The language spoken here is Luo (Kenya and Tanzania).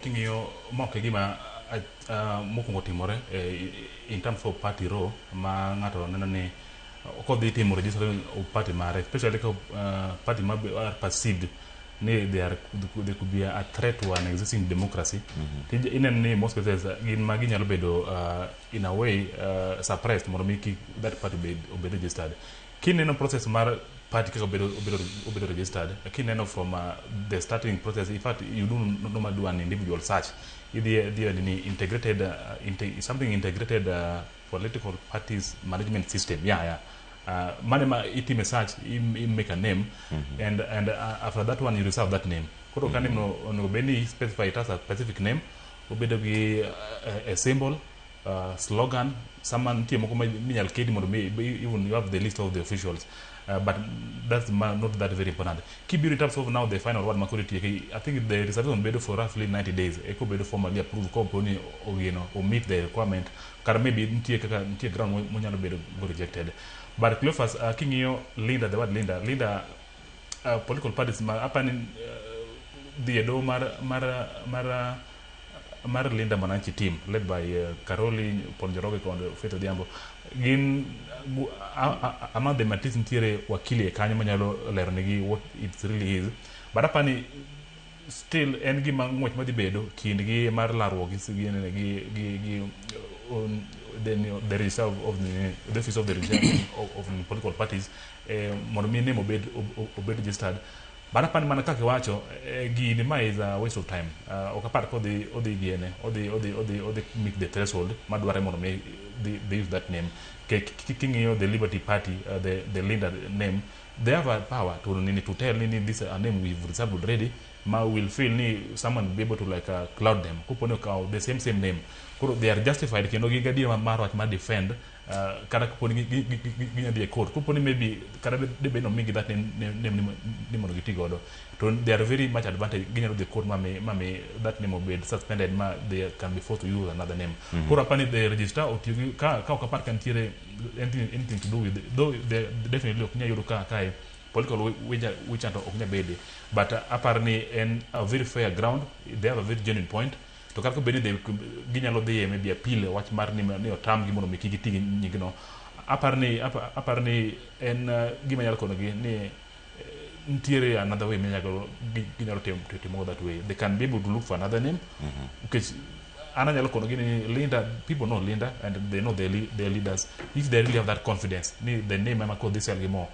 King'iyo mock e gima mokwongo timore in terms of party row ma ng'ato neno ni kodhi timo register party mare especially ka party ma are perceived ni they are they could be a threat to an existing democracy mm-hmm. ineno ni most cases gin ma ginyalo bedo in a way uh, suppressed mondo mi that party obed registered Kineno process mar party kaka obedo obedo obedo registered kineno from uh, the starting process in fact you do normally do an individual search idhi idhi e nini integrated uh, inte, something integrated uh, political parties management system yeah yeah uh, mane ma itime search im, im make a name and and uh, after that one you reserve that name koro ka name no onego bed ni specify it as a specific name obedo gi uh, a, a symbol uh, slogan sama nitie moko minyal kedi mondo mi even you have the list of the officials uh, but that's not that very important kibiro in terms of now the final one makoro itieke i think the reservation bedo for roughly 90 days eko bedo formally approved ko po ni ogeno o meet the requirement kar maybe nitie kaka nitie ground monyalo bedo go rejected but Cleophas uh, king'iyo Linda the word Linda Linda uh, political parties ma apani uh, dhi e doho mar mar mar uh, mar Linda Mwananchi team led by uh, Karoli Ponjoroge kod Faith Odhiambo gin gu- a- a- among them at least nitiere wakili e kanyo manyalo lero negi what it really is but apani still en gima ng'wech madhi bedo kindgi mar larruok gi gi gi gi, gi um, the, the reserve of the, the office of the reserve of, of the political parties eh, mondo mi name obed obed registered but apani mana kaka iwacho eh, gini ma is a waste of time uh, ok apar kodhi odhi diene odhi odhi odhi odhi meet the threshold madware mondo mi they, they use that name king'iyo the liberty party uh, the, the leader name they have a power to nini to tell nini this a name we've reserved already ma will feel ni someone be able to like uh, cloud them kuponi okawo the same same name koro they are justified kendo gi gadier mar wach ma defend Uh, kata kaponi ginya dhi e court kaponi maybe kata debed no migi that name ni mondo giti godo to they are very much advantage ginyalo dhi e court mami mami that name obed suspended ma they can be forced to use another name mm -hmm. koro apani the register otiyo gi ka ka ok apar ka nitiere anything, anything to do with though they definitely ok nyayudo ka kae political wichanto ok nyabede but uh, apar ni en a very fair ground they have a very genuine point To kata bed ni ginyalo dhiye maybe appeal e wach mar ni, ni otamgi mondo mi kik giti gi nyingno, aparo ni aparo ni en eh, gima nyalo konogi ni eh, nitiere another way minyalo ginyalo timo timo that way they can be able to look for another name mm-hmm. because an anyalo konogi ni Linda people know Linda and they know their, their leaders if they really have that confidence ni the name ema kodhi sel gi more